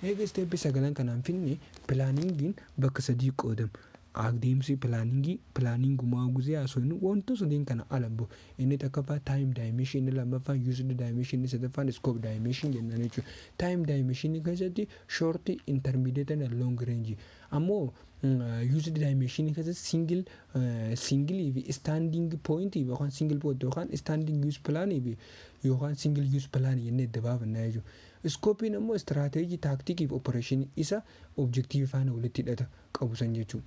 Eega isteeppi sagalan kanaan finne pilaaningiin bakka sadii qoodama. Adeemsi pilaaningii pilaaningumaa guzee haasofnu wantoota sadeen kana ala bahu. Inni takkaffaa time dimension, inni lammaffaan used dimension, inni sadaffaan scope dimension jennaan jechuudha. Time dimension keessatti short, intermediate and long range. Ammoo uh, used dimension keessatti single uh, single fi standing point fi yookaan single point yookaan standing use plan fi yookaan single use plan jennee adda baafanna jechuudha. Iskoopiin ammoo strategy, tactic fi operation isa objective faana walitti hidhata qabu san jechuudha.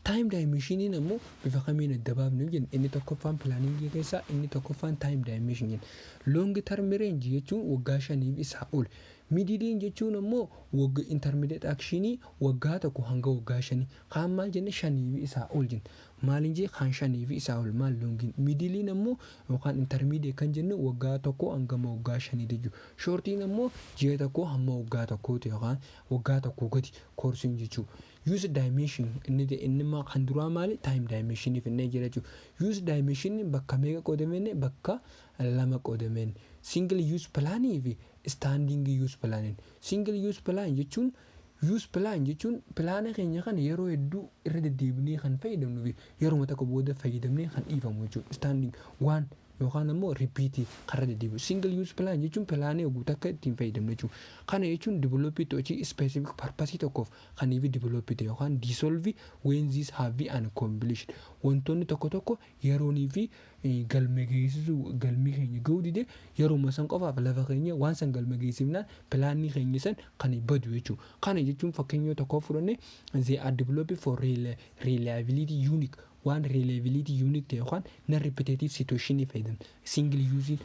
Time dimension in ammoo bifa kamiin adda baafna yoo jenne inni tokkoffaan planning keessaa inni tokkoffaan time dimension in. Long term range jechuun waggaa shaniif isaa ol. Mid din jechuun ammoo wagga intermediate action waggaa tokko hanga waggaa shanii. Kaan maal jenne shanii fi isaa ol jenne. Maalin jee kaan shanii fi isaa ol maal long in. Middle in ammoo yookaan intermediate kan jennu waggaa tokko hangama waggaa shanii jechuu. Short in ammoo ji'a tokkoo hamma waggaa tokkooti yookaan waggaa tokkoo gadi course in jechuu. Use dimension inni ta'e inni immoo kan duraa maali time dimension finnee jira jechuudha. Use dimension bakka meeqa qoodameen bakka lama qoodameen single use plan fi standing use plan single use plan jechuun use plan jechuun pilaana keenya kana yeroo hedduu irra deddeebinee kan fayyadamnuu fi yeruma tokko booda fayyadamnee kan dhiifamu jechuudha. Standing waan yookaan ammoo repeat kan irra deddeebi'u single use plan jechuun pilaanii oguu takka ittiin fayyadamnu jechuudha. Kana jechuun develop to achieve specific purpose tokkoof Kan hiv develop ta'e yookaan dissolve when these have been uncompleted. Wantoonni tokko tokko yeroon hiv galma geessisuu galmi keenya ga'uu dide yeruma san qofaaf lafa keenyee waan san galma geessifnaan pilaanni keenya san kan badu jechuudha. Kana jechuun fakkeenya yoo tokko fudhanne they are developed for reliability unique waan reliability unique ta'e yookaan non repetitive situation ni fayyadamna. Single use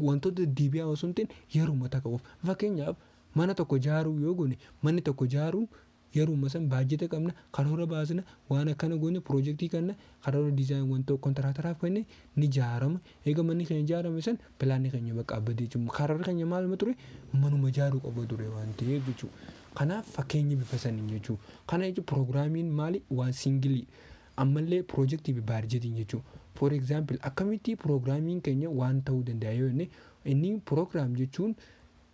wantoota deebi'aa osoo hin ta'in yeruma takka qofa. Fakkeenyaaf Mana tokko ijaaruu yoo goone manni tokko ijaaruun yeruma san baajjeta qabna, karoora baasna, waan akkana goone pirojektii kanna karoora design wantoo kontiraataraaf kenne ni ijaarama. Eega manni keenya ijaarame san pilaanni keenya bakka abbadee jechuudha. Karoorri keenya maaluma ture? Manuma ijaaruu qofa ture waan ta'eef jechuudha. Kanaaf fakkeenya bifa saniin jechuudha. Kana jechuun piroogiraamiin maali? Waan singilii. Ammallee pirojektii fi baarjetiin jechuudha. For example akkamitti piroogiraamiin keenya waan ta'uu danda'a yoo jenne inni piroogiraam jechuun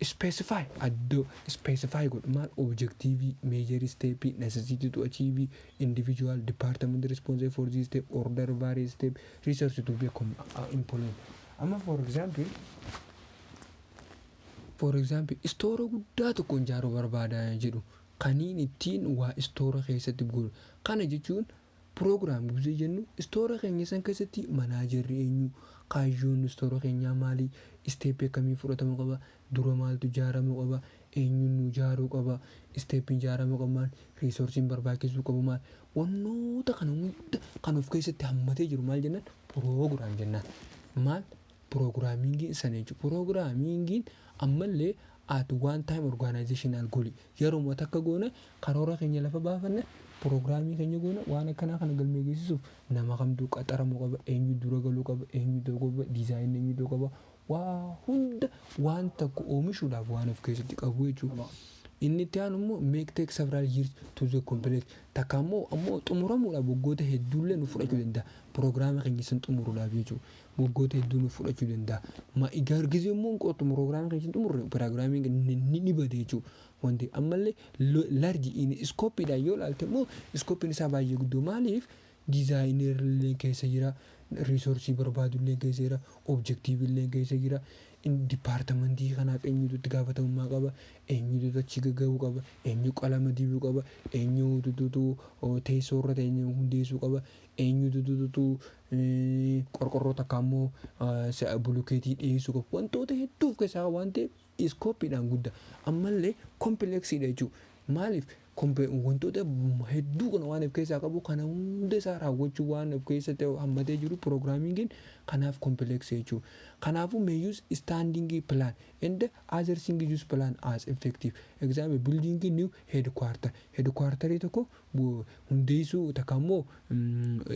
Specify addo specify godhu maal objective major step necessity to achieve individual department responsible for this step order various step resource to be com employed amma for example for example istoora guddaa tokkoon jaaruu barbaada jedhu kaniin ittiin waa istoora keessatti godhu kana jechuun Program gizee jennu istoora keenya san keessatti manaajerri eenyu, kaayyoon istoora keenyaa maali, step akkamii fudhatamu qaba, dura maaltu ijaaramu qaba, eenyuun nuu ijaaruu qaba, step ijaaramu qabu maal, resource barbaachisuu qabu maal, wannoota kana hunda kan of keessatti hammatee jiru maal jennaan program jennaan. Maal programming sana jechuudha. Programming ammallee at one time organizational goal Yeruma takka goone karoora keenya lafa baafanne prograamii keenya goone waan akkanaa kana galmee geessisuuf nama kamtu qaxaramu qaba eenyu dura galu qaba eenyu ta'u qaba diizaayin eenyu ta'u qaba waa hunda waan takka oomishuudhaaf waan of keessatti qabu jechuudha. Inni itti aanu immoo make take several years to the complete takka immoo ammoo xumuramuudhaaf waggoota hedduullee nu fudhachuu danda'a prograama keenya san xumuruudhaaf jechuudha. Waggoota hedduu nuuf fudhachuu danda'a. Ma egaa ergisii yommuu hin qoodtu program keenya hin xumurre programming ni ni ni bada jechuu wanti ammallee lo- large in scope dhaan yoo ilaalte immoo scope'n isaa baay'ee guddoo maaliif designer illee keessa jira resource barbaadu illee keessa jira objective illee keessa jira in department kanaaf eenyutu itti gaafatamummaa qaba eenyutu achi gagga'uu qaba eenyu qalama dibuu qaba eenyutu teessoo irra ta'e hundeessuu qaba eenyutu qorqorroo takkaa immoo bulukeetii dhiyeessuu qabu. Wantoota hedduu of keessaa qaba waan ta'eef iskooppiidhaan guddaa. Ammallee kompileksiidha jechuudha. Maaliif wantoota hedduu kana waan of keessaa qabu kana hunda isaa raawwachuu waan of keessatti hammatee jiru piroogiraamiingiin kanaaf kompileksii jechuudha. Kanaafuu may use standing plan and other things use plan as effective. Example building new headquarter. Headquarterii tokko hundeessuu takka immoo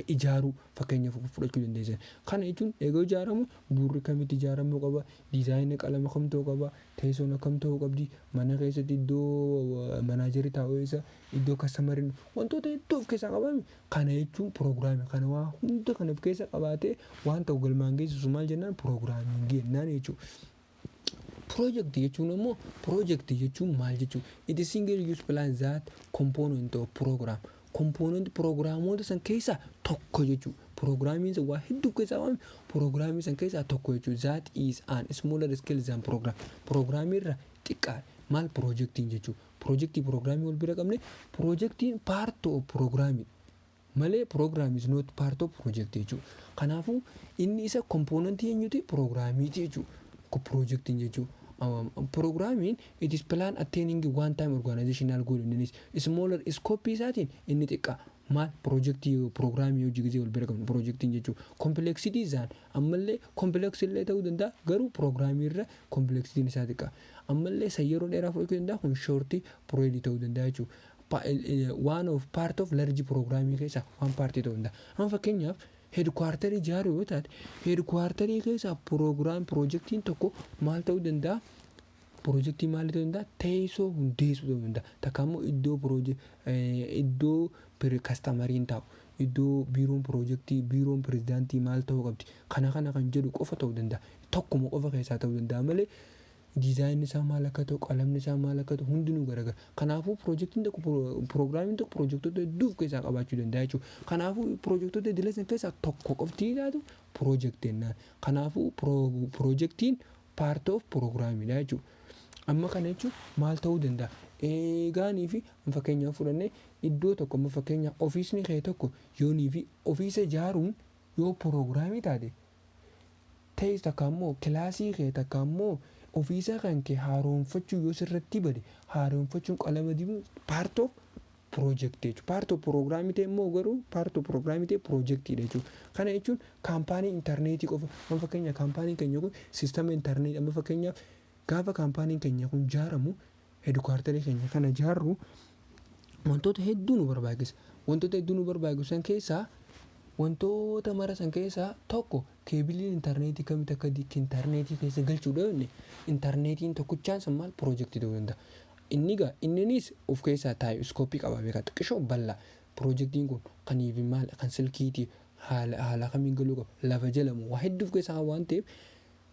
ijaaruu fakkeenya fudhachuu dandeessan. Kana jechuun egaa ijaaramu bu'uurri akkamitti ijaaramuu qaba, diizaayina qalama kam ta'uu qaba, teessoon akkam ta'uu qabdi, mana keessatti iddoo manaajarri taa'u eessa, iddoo kastamariin wantoota hedduu of keessaa qaba. Kana jechuun piroogiraamii kana waa hunda kan of keessa qabaatee waan tokko galmaan geessisu maal jennaan piroogiraamii jennaan jechuudha. Project jechuun ammoo project jechuun maal jechuudha? It is single use plan that component of program. Component programoota san keessaa tokko jechuudha. Programmiin san waa hedduu keessaa waame programmii san keessaa tokko jechuudha. That is an smaller scale than program. Programmii irra xiqqaadha. Maal projectiin jechuudha? Projectii programmii wal bira qabne projectiin part of programmii. Malee program is not part of project jechuu kanaafu inni isa component eenyuti programiti jechuu ko projectin jechuu programin it is plan attaining one time organizational goal in is smaller scope isaatiin inni xiqqaa maal project programii hojii gizee wal bira qabnu projectin jechuu complexity zaan ammallee complex illee ta'uu danda'a garuu programii irra complexitiin isaa xiqqaa ammallee san yeroo dheeraa fudhachuu danda'a kun shorti period ta'uu danda'a jechuu Pa, waan of part of large program keessaa waan paartii ta'uu danda'a. Amma fakkeenyaaf heedkuwaartarii ijaaruu yoo taate heedkuwaartarii keessaa program pirojektiin tokko maal ta'uu danda'a? Pirojektii maal ta'uu danda'a? Teessoo hundeessuu ta'uu danda'a. Takka immoo iddoo piroje, eh, iddoo pir- kastamariin taa'u iddoo biiroon pirojektii biiroon pirezidaantii maal ta'uu qabdi kana kana kan jedhu qofa ta'uu danda'a. Tokkuma qofa keessaa ta'uu danda'a malee Dizaayinni isaa maal akka ta'u, qalamni isaa maal akka ta'u hundinuu garagara. Kanaafuu pirojektiin tokko piroogiraamiin tokko pirojektoota hedduu of keessaa qabaachuu danda'a jechuudha. Kanaafuu pirojektoota idilee sana keessaa tokko qofti ilaatu pirojektii jennaan. Kanaafuu pirojektiin paartii of piroogiraamiidha jechuudha. Amma kana jechuun maal ta'uu danda'a? Eegaanii fi fakkeenyaaf fudhannee iddoo tokko amma fakkeenyaaf ofiisni kee tokko yoonii fi ofiisa ijaaruun yoo piroogiraamii taate ta'es takka ammoo kilaasii kee takka ammoo ofiisaa kan kee haaromfachuu yoo sirratti bade haaromfachuun qalama dibuun part of project jechuudha. Part of program ta'e immoo garuu part of program ta'e project dha jechuudha. Kana jechuun kaampaanii intarneetii qofa amma fakkeenya kaampaaniin keenya kun sistama intarneetii amma fakkeenyaaf gaafa kaampaaniin keenya kun jaaramu hedukaartarii keenya kana ijaarru wantoota hedduu nu barbaachisa. Wantoota hedduu nu barbaachisu san keessaa wantoota mara san keessaa tokko keebiliin intarneetii kamitti akka di- intarneetii keessa galchuu dhoofne intarneetiin tokkichaan san maal piroojeektii ta'uu danda'a. Inni gaa inninis of keessaa taa'e iskooppii qaba beekaa xiqqishoo bal'aa piroojeektiin kun kan iivi maal kan silkiitii haala haala kamiin galuu qaba lafa jala moo waa hedduu of keessaa waan ta'eef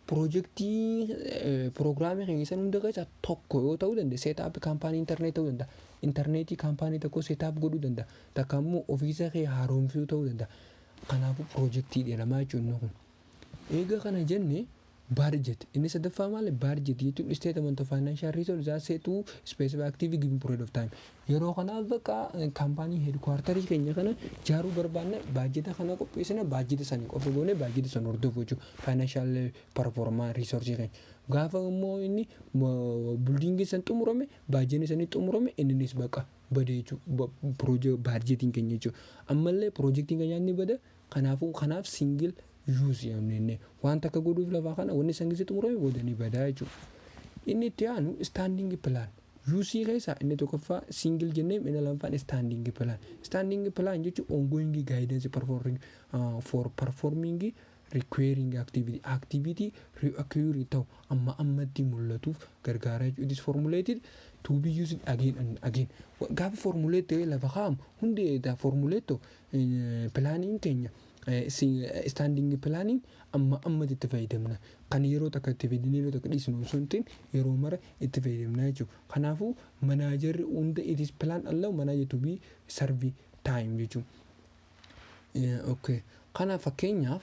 Piroojektii piroogiraamii keenya san hunda keessa tokko yoo ta'uu danda'e seetaappii kaampaanii intarneet ta'uu danda'a. Intarneetii kaampaanii tokko seetaap godhuu danda'a. Takka immoo ofiisa kee haaromsuu ta'uu danda'a. Kanaafuu piroojektii jedhama jechuudha inni kun. Eega kana jenne baarjet inni sadaffaa maali baarjet jechuun isteetamant of faayinaanshaal riisoorsi isaa seetuu ispeesif aktiivii giivin pirood of taayim. Yeroo kana bakka kaampaanii heedkuwaartarii keenya kana ijaaruu barbaanna, baajjeta kana qopheessina, baajjeta sana qofa goone, baajjeta sana hordofu jechuudha. Faayinaanshiyal parfoormaa riisoorjii keenya. Gaafa immoo inni buldiingiin san xumurame, baajjeni sanii xumurame inninis bakka bade jechuudha. Baajjetiin keenya jechuudha. Ammallee piroojektiin keenyaa ni bada, Kanaafuu kanaaf single use yaamne jennee waan takka godhuuf lafaa kana wanni san gisi xumurame booda ni badaa jechuudha. Inni itti aanu standing plan use keessaa inni tokkoffaa single jenneem inni lammaffaan standing plan. Standing plan jechuun ongoing guidance performing uh, for performing requiring activity activity reoccurring ta'u amma ammatti mul'atuuf gargaaraa jechuudha. It is formulated to be used again and again. Gaafa formulate ta'ee lafa kaa'amu hundi eedaa formulate ta'u Pilaaniin keenya istaandiingi pilaaniin amma ammatti itti fayyadamna. Kan yeroo takka itti fayyadamne yeroo takka dhiisnu osoo hin ta'in yeroo mara itti fayyadamna jechuudha. Kanaafuu manaajarri hunda it is plan allow manager to be serve time jechuudha. Okay. Kana fakkeenyaaf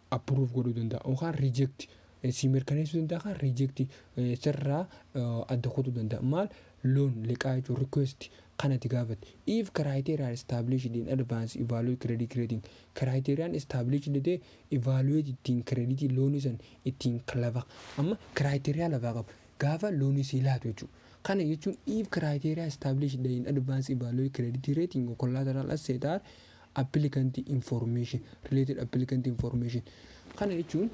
approve godhuu danda'a yookaan reject eh, si mirkaneessuu danda'a yookaan reject eh, sirraa eh, adda kutuu danda'a maal loan liqaa jechuun request kan ati gaafatte if criteria are established in advance evaluate credit rating criteriyaan established ta'e evaluate ittiin credit loonii san ittiin lafa amma criteria lafaa qaba gaafa loonii sii laatu jechuudha kana jechuun if criteria established in advance evaluate credit rating or collateral asset are applicant information related applicant information kana jechuun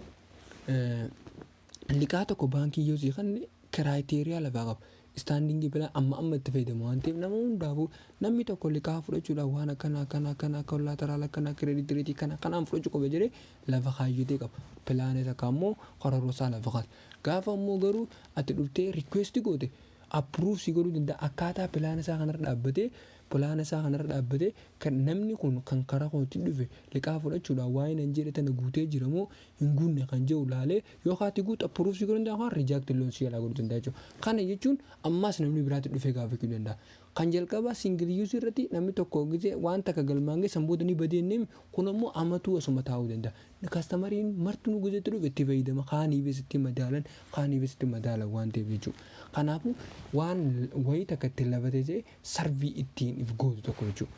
liqaa tokko baankii yoo sii kanne kiraayiteriyaa lafaa qaba. Istaandingii bilaa amma amma itti fayyadamu waan ta'eef nama hundaafuu namni tokko liqaa fudhachuudhaaf waan akkana akkana akkana akka laataraala akkana kireeditii reetii kana kanaan fudhachuu qaba jedhee lafa kaayyatee qaba. Pilaanee takka ammoo karoorsaa lafa kaata. Gaafa ammoo garuu ati dhuftee rikweestii goote appiruuf si godhuu danda'a akkaataa pilaana isaa kanarra dhaabbatee Polaana isaa kanarra dhaabbatee kan namni kun kan karaa kootiin dhufe liqaa fudhachuudhaan waa'ee nan jedhe tana guutee jira moo hin guunne kan jedhu laalee yoo kaati guutu approve si godhuu danda'a yookaan reject loan si jalaa godhuu danda'a jechuudha. Kana jechuun ammaas namni biraatti dhufee gaafachuu danda'a. Kan jalqabaa single use irratti namni tokko gizee waan takka galmaan ga'e san booda ni badee jenneemi kun ammoo amatuu asuma taa'uu danda'a. Kastamariin martinuu gizee itti dhufe itti fayyadama kaaniifis itti madaalan kaaniifis itti madaalan waan ta'eef jechuudha. Kanaafuu waan wayii takka itti lafa teessee sarvii ittiin if gootu tokko jechuudha.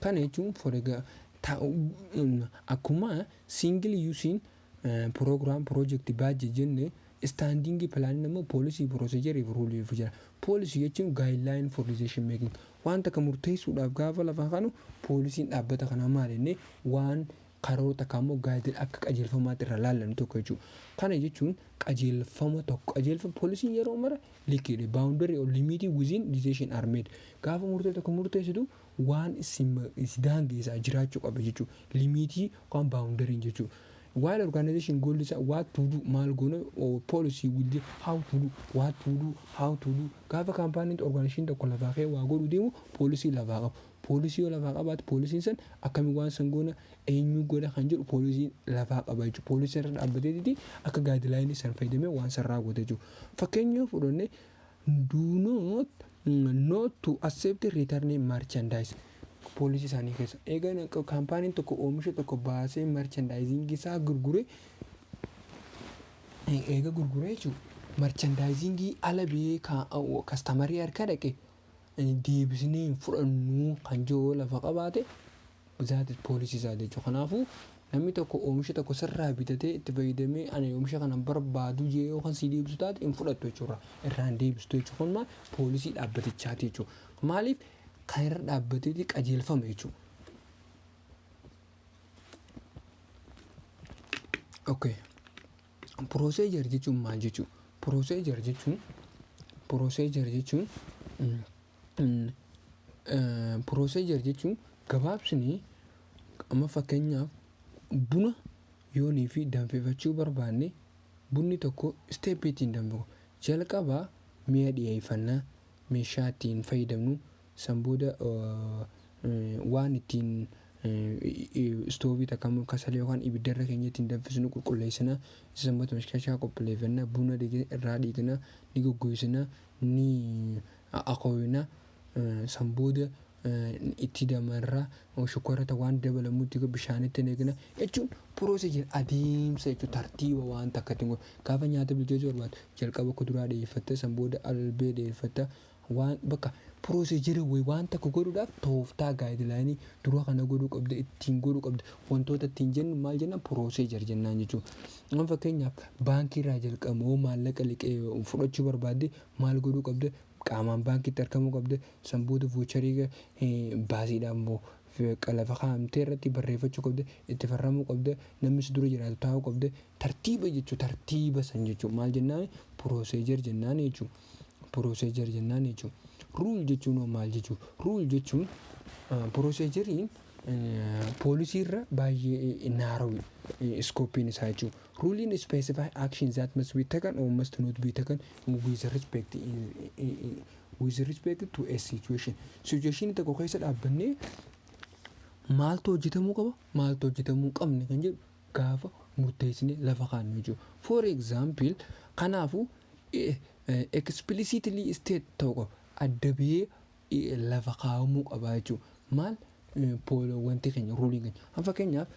Kana jechuun for egaa akkuma single using program project budget jenne standing plan immoo policy procedure fi rule fi jira. Policy jechuun guideline for decision making waan takka murteessuudhaaf gaafa lafa kanu poolisiin dhaabbata kanaa maal jennee waan karoora takka ammoo gaadila akka qajeelfamaatti irraa laallannu tokko jechuudha. Kana jechuun qajeelfama tokko qajeelfama poolisiin yeroo mara likiidha. Baawundarii or limiitii within decision are made. Gaafa murtee tokko murteessitu waan si daangeessaa jiraachuu qaba jechuudha. Limiitii yookaan baawundariin jechuudha. While organization goal isaa what to do maal goona policy will be how to do what to do how to do gaafa kaampaaniin organization tokko lafaa kee waa godhu deemu poolisii lafaa qabu. Poolisii yoo lafaa qabaate poolisiin san akkamiin waan san goona eenyuu godha kan jedhu poolisiin lafaa qaba jechuudha. Poolisii irra dhaabbateeti akka gaadilaayinii san fayyadamee waan san raawwata jechuudha. Fakkeenya yoo fudhanne do not not to accept return merchandise poolisii isaanii keessa. Eegan kaampaaniin tokko oomisha tokko baasee merchandising isaa gurgure eega gurguree jechuudha. Merchandisingii ala biyee kastamarii harka dhaqe deebisnee hin fudhannuu kan jiru yoo lafa qabaate that is policy isaa jechuudha. Kanaafuu namni tokko oomisha tokko sirraa bitatee itti fayyadamee ani oomisha kana hin barbaadu jee yoo kan sii deebisu taate hin fudhattu jechuudha. Irraa hin deebistu jechuudha. Kun maal poolisii dhaabbatichaati jechuudha. Maaliif kan irra dhaabbateeti qajeelfama jechuudha. Okay. Procedure jechuun maal jechuu? Procedure jechuun Procedure jechuun Procedure jechuun gabaabsinee amma fakkeenyaaf buna yoonii fi danfifachuu barbaanne bunni tokko step ittiin danfifamu. Jalqaba mi'a dhiyeeffannaa, meeshaa ittiin fayyadamnu, San booda waan ittiin istoovii takka immoo kasalee yookaan ibidda irra keenyee ittiin danfisnu qulqulleessina. Isa san booda mashkashaa qophileeffanna. Buna dhiqne irraa dhiqna. Ni goggoysina. Ni akooyna. San booda itti damarra. Shukkaara ta waan dabalamu itti go- bishaanitti naqna. Jechuun process jira. Adeemsa jechuudha. Tartiiba waan takka ittiin go- Gaafa nyaata bilcheessuu barbaaddu jalqaba kuduraa dhiyeeffatta. San booda albee dhiyeeffatta. Waan bakka procedure way waan tokko godhuudhaaf tooftaa guideline dura kana godhuu qabda ittiin godhuu qabda wantoota ittiin jennu maal jennaan procedure jennaan jechuudha. Amma fakkeenyaaf baankii irraa jalqabama yoo maallaqa liqee fudhachuu barbaadde maal godhuu qabda qaamaan baankiitti argamuu qabda san booda voucherii baasiidhaan immoo lafa kaa'amtee irratti barreeffachuu qabda itti farramuu qabda namni si dura jiraatu taa'uu qabda Tartiiba jechuun tartiiba san jechuun maal jennaani procedure jennaani jechuu procedure jennaani jechuu rule jechuun hoo maal jechuu rule jechuun proceduriin poolisii irra baay'ee narrow scopein isaa jechuu ruliin specify action that must be taken or must not be taken with respect with respect to a situation situation tokko keessa dhaabbannee maaltu hojjetamuu qaba maaltu hojjetamuu hin qabne kan jedhu gaafa murteessinee lafa kaannu jechuudha. For example, kanaafu explicitly state ta'uu qaba. Adda bahee lafa kaa'amuu qaba jechuudha. Maal wanti keenya ruuliin keenya. Amma fakkeenyaaf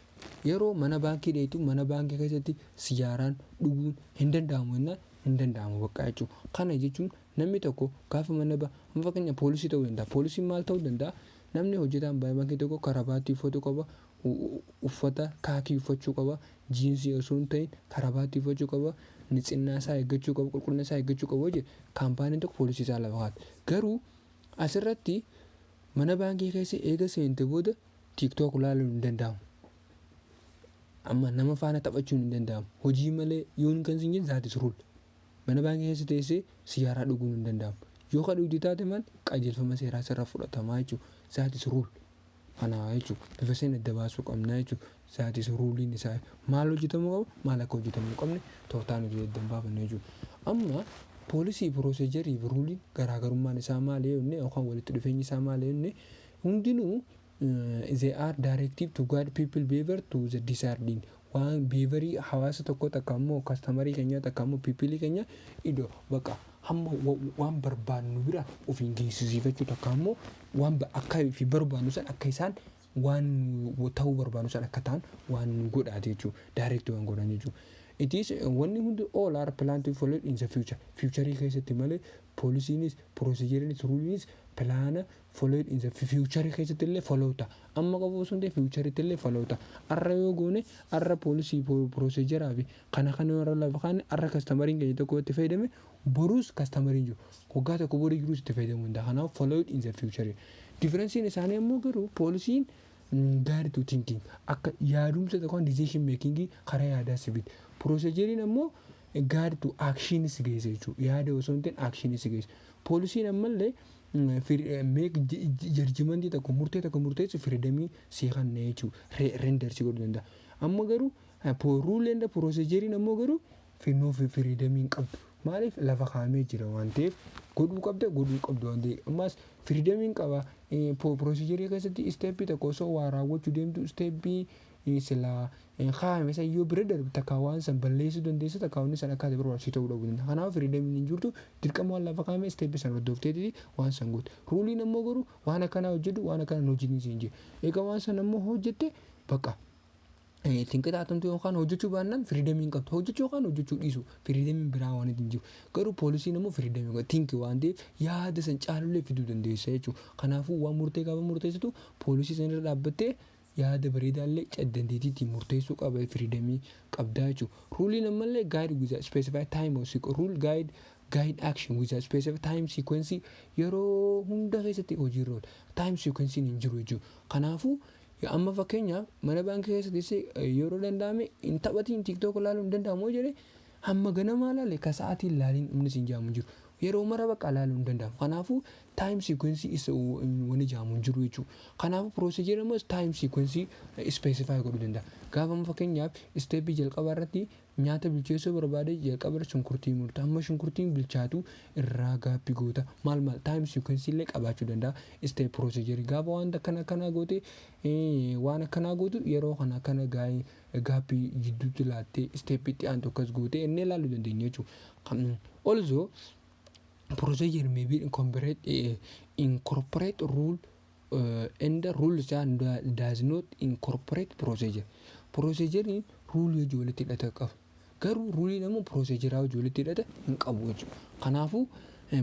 yeroo mana baankii deemtu mana baankii keessatti sijaaraan dhuguun hin danda'amu jennaan hin danda'amu bakka jechuudha. Kana jechuun namni tokko gaafa mana ba amma fakkeenya poolisii ta'uu danda'a. Poolisiin maal ta'uu danda'a? Namni hojjetaan baankii tokko karabaattii uffatu qaba, uffata kaakii uffachuu qaba, jiinsii osoo hin ta'iin karabaattii uffachuu qaba, nitsinnaa isaa eeggachuu qaba, qulqullina isaa eeggachuu qaba yoo jedhe kaampaaniin tokko poolisii isaa lafa kaa'atti. Garuu asirratti mana baankii keessa eega seente booda TikTok laaluun hin danda'amu. Amma nama faana taphachuun hin danda'amu. Hojii malee yoon kan siin jedhe that is rule. Mana baankii keessa teessee siyaaraa dhuguun hin danda'amu. Yoo ka dhugde taate maal qajeelfama seeraa sirra fudhatamaa jechuudha. That is rule. Kana jechuun bifa seen adda baasuu qabna jechuudha. Zaatis ruuliin isaa maal hojjetamuu qaba maal akka hojjetamuu hin qabne tooftaa nuti adda hin baafanne jechuudha. Amma poolisii pirooseejarii fi ruuliin garaagarummaan isaa maali yoo jenne yookaan walitti dhufeenyi isaa maali yoo jenne hundinuu they are directive to guide people behavior to the desired end. waan beevarii hawaasa tokkoo takka immoo kastamarii keenyaa takka immoo piipilii keenya ido baqa hamma waan barbaannu bira ofiin geessisiifachuu takka immoo waan akka fi barbaannu san akka isaan waan ta'uu barbaannu san akka ta'an waan nu godhaate jechuudha. Daayireekti waan godhan jechuudha. It is wanni hundi all are plan to follow in the future. Fiicharii keessatti malee poolisiinis, piroosijeriinis, ruuliinis pilaana followed in the future keessatti illee follow ta'a. Amma qofa osoo hin ta'in future itti illee follow ta'a. Arra yoo goone arra policy pro- procedure fi kana kana yoo irra lafa kaanne arra kastamariin keenya tokko yoo itti fayyadame boruus kastamariin jiru waggaa tokko borii jiruus itti fayyadamuu danda'a. Kanaaf followed in the future. Differensiin isaanii ammoo garuu poolisiin guide to thinking akka yaadumsa tokko decision making karaa yaadaa si fide. Proceduriin ammoo guide to action si geessa jechuudha. Yaada osoo hin ta'in action si geessa. Poolisiin ammallee make judgement tokko murtee tokko murteessuuf firidamii sii kanna jechuu render si godhu danda'a. Amma garuu rule and procedure ammoo garuu no firidamii hin qabdu. Maaliif lafa kaa'amee jira waan ta'eef godhuu qabda godhuu qabdu waan ta'eef ammaas firidamiin qaba procedure keessatti step tokko osoo waa raawwachuu deemtu step silaa hin kaayame san yoo bira darbe takkaa waan san balleessuu dandeessa takkaa wanni san akka ati barbaaddu si ta'uu dhabuu danda'a. Kanaafuu firiidamiin hin jirtu dirqama waan lafa kaayame isteeppi san hordofteetiti waan san goote. Ruuliin ammoo garuu waan akkanaa hojjedhu waan akkanaa hin hojjetin siin jee. Eega waan san ammoo hojjette bakka itti hin qixaaxamtu yookaan hojjechuu baannaan firiidamii hin qabdu. Hojjechuu yookaan hojjechuu dhiisuu firiidamiin biraa waan hin jiru. Garuu poolisiin ammoo firiidamii qaba tinki waan ta'eef yaada san caalullee fiduu dandeessa jechuudha. Kanaafuu waan murtee gaafa murteessitu poolisii san irra dhaabbattee Yaada bareedaallee chat dandeetiitiin murteessuu qaba firidamii qabdaa jechu. Ruuliin ammallee guide with a specified time or sequ rule guide guide action with a specified time sequence yeroo hunda keessatti hojiirra oola. Time sequence hin jiru jechu. Kanaafuu amma fakkeenyaaf mana baankii keessatti si yeroo danda'ame hin taphatiin tiktok ilaaluun hin danda'amu yoo jedhe Hamma ganamaa laale ka sa'aatii hin laaliin wanni siin ja'amu hin jiru. Yeroo mara baqaa laaluun hin danda'amu. Kanaafuu time sequence is wanni ja'amu hin jiru jechuu. Kanaafuu procedure ammas time sequence specify godhuu danda'a. Gaafa amma fakkeenyaaf step jalqabaa irratti nyaata bilcheessuu barbaade jalqaba irra shunkurtii murta. Hamma shunkurtiin bilchaatu irraa gaappi goota. Maal maal time sequence illee qabaachuu danda'a step procedure. Gaafa wanta akkana akkanaa goote waan akkanaa gootu yeroo kana akkana gaa'ee gaappi jidduutti laattee step itti aantu akkas gootee inni ilaaluu dandeenya jechuudha. Also procedure may be incorporate, eh, incorporate rule uh, and rules and does not incorporate procedure. Procedure rule hojii walitti hidhata qaba. Garuu ruuliin ammoo procedure hojii walitti hidhata hin qabu jechuudha. Kanaafuu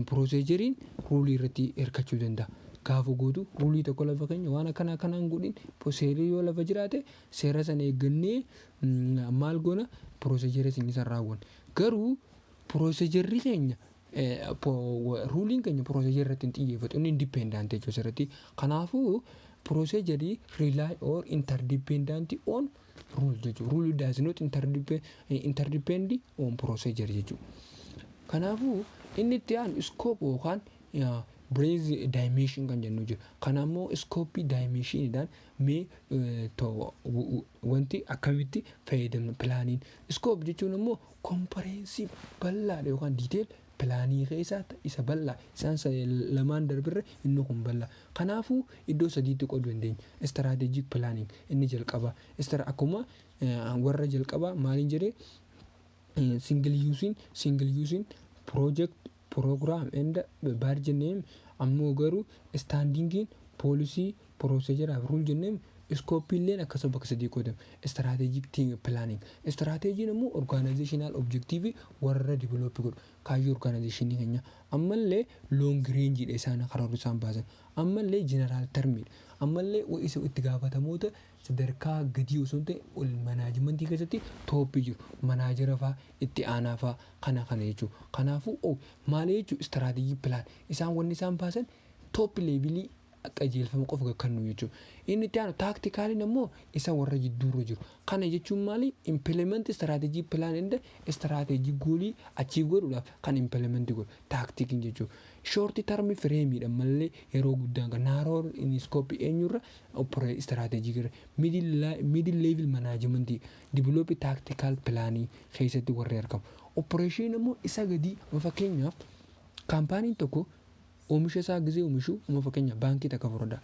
procedure ruulii irratti hirkachuu danda'a. Gaafa gootu ruulii tokko lafa keenya waan akkana akkanaan godhin seerri yoo lafa jiraate Seera sana eeggannee maal goona? Procedure keenya san raawwanna. Garuu procedure keenya ruuliin keenya procedure irratti hin xiyyeeffatu. Inni independent jechuudha asirratti. Kanaafuu procedure rely or interdependent on rule jechuudha. Rule does not interdepend on procedure jechuudha. Kanaafuu inni itti aanu scope yookaan breadth dimension kan jennu jira. Kana immoo scope dimensionidhaan Mee wanti akkamitti fayyadamna pilaaniin iskoop jechuun immoo kompareensiif bal'aadha yookaan diiteel pilaanii keessaa isa bal'aa isaan lamaan darbirra inni kun bal'aa kanaafuu iddoo sadiitti qooduu dandeenya istiraateejiik pilaaniin inni jalqabaa istira akkuma warra jalqabaa maaliin jedhee singil yuusiin singil yuusiin piroojekt program and badge name ammoo garuu standing in policy procedure and rule jenneen scope illeen akkasuma bakka sadii qoodama strategic team planning strategy ammoo organizational objective warra develop godhu kaayyoo organization keenya ammallee long range dha isaan karoorri isaan baasan ammallee general term dha ammallee isa itti gaafatamoota sadarkaa gadii osoo hin ta'in ol manaajimantii keessatti tooppii jiru manaajera faa itti aanaa faa kana kana jechuu kanaafuu o maalee jechuu istiraatejii pilaan isaan wanni isaan baasan tooppi leevilii qajeelfama qofa ga kannuu jechuu inni itti aanu taaktikaaliin ammoo isa warra jidduu irra jiru kana jechuun maalii impilementi istiraatejii pilaan enda istiraatejii goolii achiiv godhuudhaaf kan impilementi godhu taaktikiin jechuu shoorti tarmi fireemiidha mallee yeroo guddaan ga naaroo in iskooppii eenyu irra Operate Strategic irra, Middle Level Management, Develop Tactical Plan keessatti warri argamu. Operation ammoo isa gadii amma fakkeenyaaf kaampaaniin tokko oomisha isaa gizee oomishu amma fakkeenyaaf baankii takka fudhadhaa.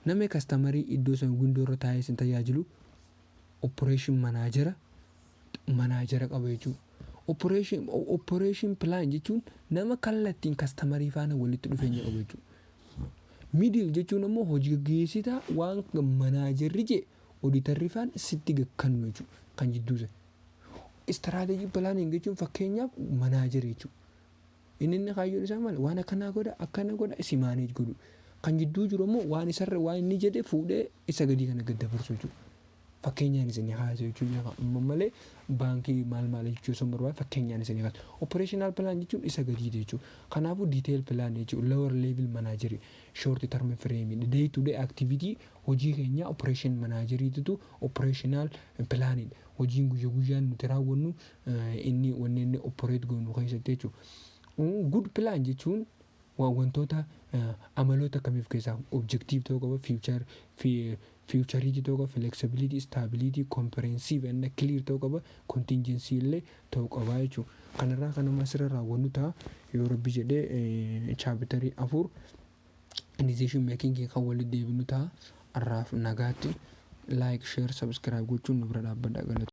Namni kastamarii iddoo san windoo irra taa'ee isin tajaajilu operation manaajera manaajara qaba jechuudha. Operation operation plan jechuun nama kallattiin kastamarii faana walitti dhufeenya qabu jechuudha. Middle jechuun ammoo hojii gaggeessitaa waan manaajarri jee oditarri faan sitti gakkannu jechuudha. Kan jidduu sana. Strategy planning jechuun fakkeenyaaf manaajara jechuudha. Inni inni kaayyoon isaa maal waan akkanaa godha akkana godha si manage godhu. Kan jidduu jiru ammoo waan isarra waan inni jedhe fuudhee isa gadii kana gad dabarsu jechuudha. Fakkeenyaan isinii kaasa jechuun jira. Amma malee baankii maal maal jechuu osoo hin barbaadne fakkeenyaan isinii kaasa. Operational plan jechuun isa gadiidha jechuudha. Kanaafuu detail plan jechuudha. Lower level manager short term frame dha. Day to day activity hojii keenyaa operation manager titu operational plan dha. Hojiin guyya guyyaan nuti raawwannu eh, inni wanni inni operate goonu keessatti jechuudha. Mm, Good plan jechuun Wa, wantoota, amaloota akkamii of keessaa qaba? Objective ta'uu qaba, future, fi, futurity ta'uu qaba, flexibility, stability, comprehensive and clear ta'uu qaba, contingency illee ta'uu qaba jechuudha. Kana irraa kan amma asirra raawwannu ta'a. Yoo Rabbi jedhe eh, chapter 4 decision making kan walitti deebinu ta'a. Har'aaf nagaatti like, share, subscribe gochuun nu bira dhaabbadha galatooma.